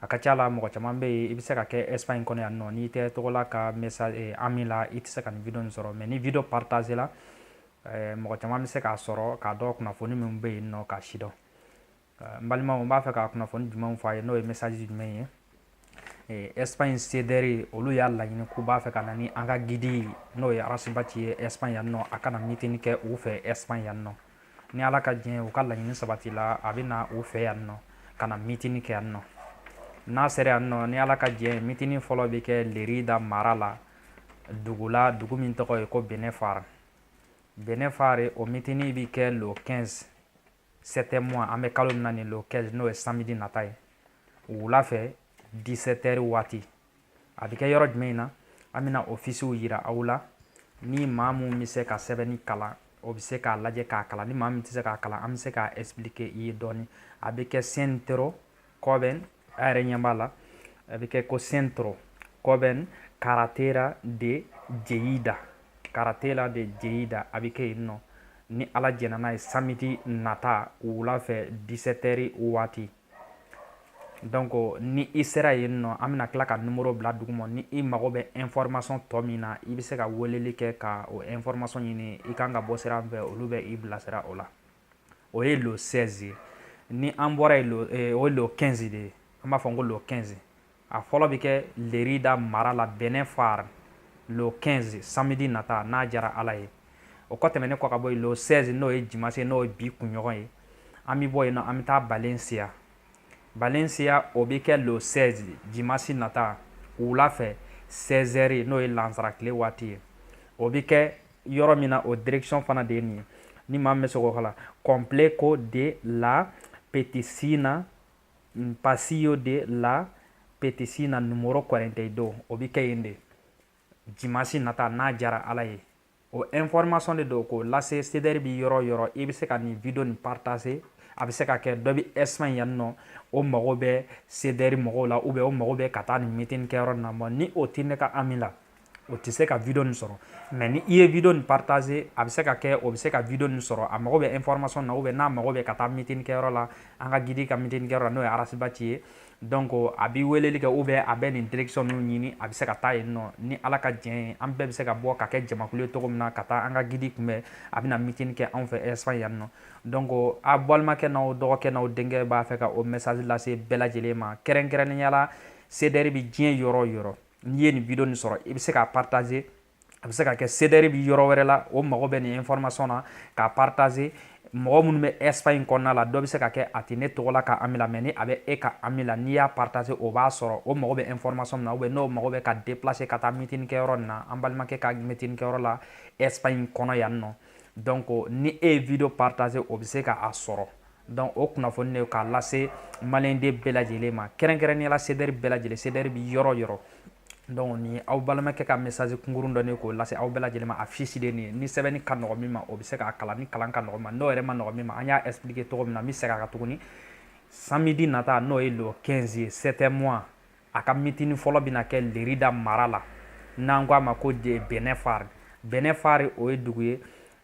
a ka ca la mɔgɔ caman bɛ yen i bɛ se ka kɛ espagne kɔnɔ yan nɔ n'i tɛ tɔgɔla ka message eh, ami la i tɛ se ka nin video nin sɔrɔ mais ni video partage la eh, mɔgɔ caman bɛ se k'a sɔrɔ k'a dɔn kunnafoni min bɛ yen nɔ k'a sidɔn eh, n balimaw n b'a fɛ ka kunnafoni jumɛnw fɔ a ye n'o ye message jumɛn ye eh, espagne sederi olu y'a laɲini k'u b'a fɛ ka na ni an ka guide n'o ye arasibati ye espagne yan nɔ a ka na mitini kɛ u fɛ espagne yan nɔ ni ala ka diɲɛ u ka laɲini sabatila a bɛ na u fɛ yan nɔ ka na mitini kɛ yan nɔ n'a sera yan nɔ ni ala ka diɲɛ mitini fɔlɔ bɛ kɛ lerida mara la dugu la dugu min tɔgɔ ye ko benefar benefar o mitini bɛ kɛ le 15 septembre an bɛ kalo min na nin le 15 n'o ye samedi nata ye wula fɛ 17 heures waati a bɛ kɛ yɔrɔ jumɛn in na an bɛna afisiw yira aw la ni maa min bɛ se ka sɛbɛnni kalan o bɛ se k'a lajɛ k'a kalan ni maa min tɛ se k'a kalan an bɛ se k'a expliquer i ye dɔɔni a bɛ kɛ centro joven a yɛrɛ ɲɛ b'a la a bɛ kɛ ko centro joven carretera de lleida carretera de lleida a bɛ kɛ yen nɔ ni ala jɛnna n'a ye samedi nata wula fɛ 17 heures waati Donc ni i sera yen nɔ an bɛna tila ka numéro bila duguma ni i mago bɛ information tɔ min na i bɛ se ka weleli kɛ ka o information ɲini i kan ka bɔ sira min fɛ olu bɛ i bilasira o la o ye le 16 ye ni an bɔra yen o ye le 15 de ye an b'a fɔ ko le 15 a fɔlɔ bɛ kɛ lerida mara la benefar le 15 samedi nata n'a jara ala ye o kɔ tɛmɛnen kɔ ka bɔ yen le 16 n'o ye jimasi n'o ye bi kunɲɔgɔn ye an bɛ bɔ yen nɔ an bɛ taa valencia valencia o bɛ kɛ le 16 jimasi nata wula fɛ 16 heures n'o ye lansara tile waati ye o bɛ kɛ yɔrɔ min na o direction fana de ye nin ye ni maa min bɛ se k'o kalan complejo de la petxina un paseo de la petxina numero 42 o bɛ kɛ yen de dimansi nata n'a jara ala ye o information de don k'o lase sedɛri bi yɔrɔ yɔrɔ i bɛ se ka nin video nin partager a bɛ se ka kɛ dɔ bɛ espagne yan nɔ o mago bɛ sedɛri mɔgɔw la ou bien o mago bɛ ka taa nin meeting kɛyɔrɔ nin na bon ni o tɛ ne ka ami la o tɛ se ka video nin sɔrɔ mais ni i ye video nin partager a bɛ se ka kɛ o bɛ se ka video nin sɔrɔ a mago bɛ information na ou bien n'a mago bɛ ka taa meeting kɛyɔrɔ la an ka guide ka meeting kɛyɔrɔ la n'o ye Ras Bath ye donc a bɛ weleli kɛ ou bien a bɛ nin direction ninnu ɲini a bɛ se ka taa yen nɔ ni Ala ka diɲɛ ye an bɛɛ bɛ se ka bɔ ka kɛ jamakulu ye cogo min na ka taa an ka guide kunbɛn a bɛna meeting kɛ anw fɛ Espagne yan nɔ donc aw balimakɛ n'aw dɔgɔkɛ n'aw denkɛ b'a fɛ ka o message lase bɛɛ lajɛlen ma kɛrɛnkɛrɛnnenya la CDR bɛ diɲɛ yɔrɔ yɔrɔ n'i ye nin video nin sɔrɔ i bɛ se k'a partager a bɛ se ka kɛ CDR bi yɔrɔ wɛrɛ la o mago bɛ nin information na k'a partager mɔgɔ minnu bɛ Espagne kɔnɔna la dɔ bɛ se ka kɛ a tɛ ne Togola ka ami la mais ni a bɛ e ka ami la n'i y'a partager o b'a sɔrɔ o mago bɛ information min na ou bien n'o mago bɛ ka déplacer ka taa meeting kɛyɔrɔ nin na an balimakɛ ka meeting kɛyɔrɔ la Espagne kɔnɔ yan nɔ donc ni e ye video partager o bɛ se ka a sɔrɔ donc o kunnafoni de k'a lase maliyɛnden bɛɛ lajɛlen ma kɛrɛnkɛrɛnnenya la CDR bɛɛ lajɛlen CDR bɛ yɔrɔ yɔrɔ donc nin aw balimakɛ ka message kunkurun don k'o lase aw bɛɛ lajɛlen ma affiche de nin ye ni sɛbɛnni ka nɔgɔ min ma o bɛ se k'a kalan ni kalan ka nɔgɔ ma n'o yɛrɛ ma nɔgɔ min ma an y'a expliquer cogo min na n bɛ segin a kan tuguni samedi nata n'o ye le 15 ye septembre a ka meeting fɔlɔ bɛna kɛ Lerida mara la n'an ko a ma ko de Binéfar Binéfar o ye dugu ye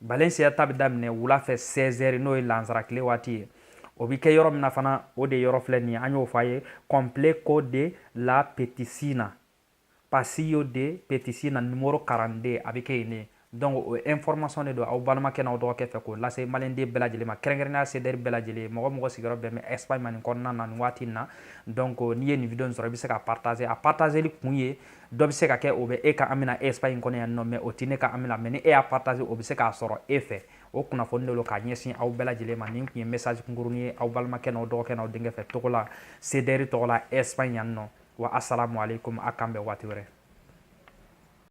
Valencia ta bɛ daminɛ wula fɛ 16 heures n'o ye lansara tile waati ye o bɛ kɛ yɔrɔ min na fana o de yɔrɔ filɛ nin ye an y'o fɔ a ye complejo de la Petxina paseo de Petxina numero 42 a bɛ kɛ yen de donc o information de don aw balimakɛ n'aw dɔgɔkɛ fɛ k'o lase maliyɛnden bɛɛ lajɛlen ma kɛrɛnkɛrɛnnenya CDR bɛɛ lajɛlen mɔgɔ mɔgɔ sigiyɔrɔ bɛn bɛ Espagne ma nin kɔnɔna na nin waati in na donc n'i ye nin video in sɔrɔ i bɛ se k'a partager a partageli kun ye dɔ bɛ se ka kɛ o bɛ e ka ami na Espagne kɔnɔ yan nɔ mais o tɛ ne ka ami na mais ni e y'a partager o bɛ se k'a sɔrɔ e fɛ o kunnafoni de lo k'a ɲɛsin aw bɛɛ lajɛlen ma nin tun ye message kunkurunin ye aw balimakɛ n'aw dɔgɔkɛ n'aw denkɛ fɛ Togola CDR tɔgɔ la Espagne yan nɔ wa asalamu aleykum a k'an bɛn waati wɛrɛ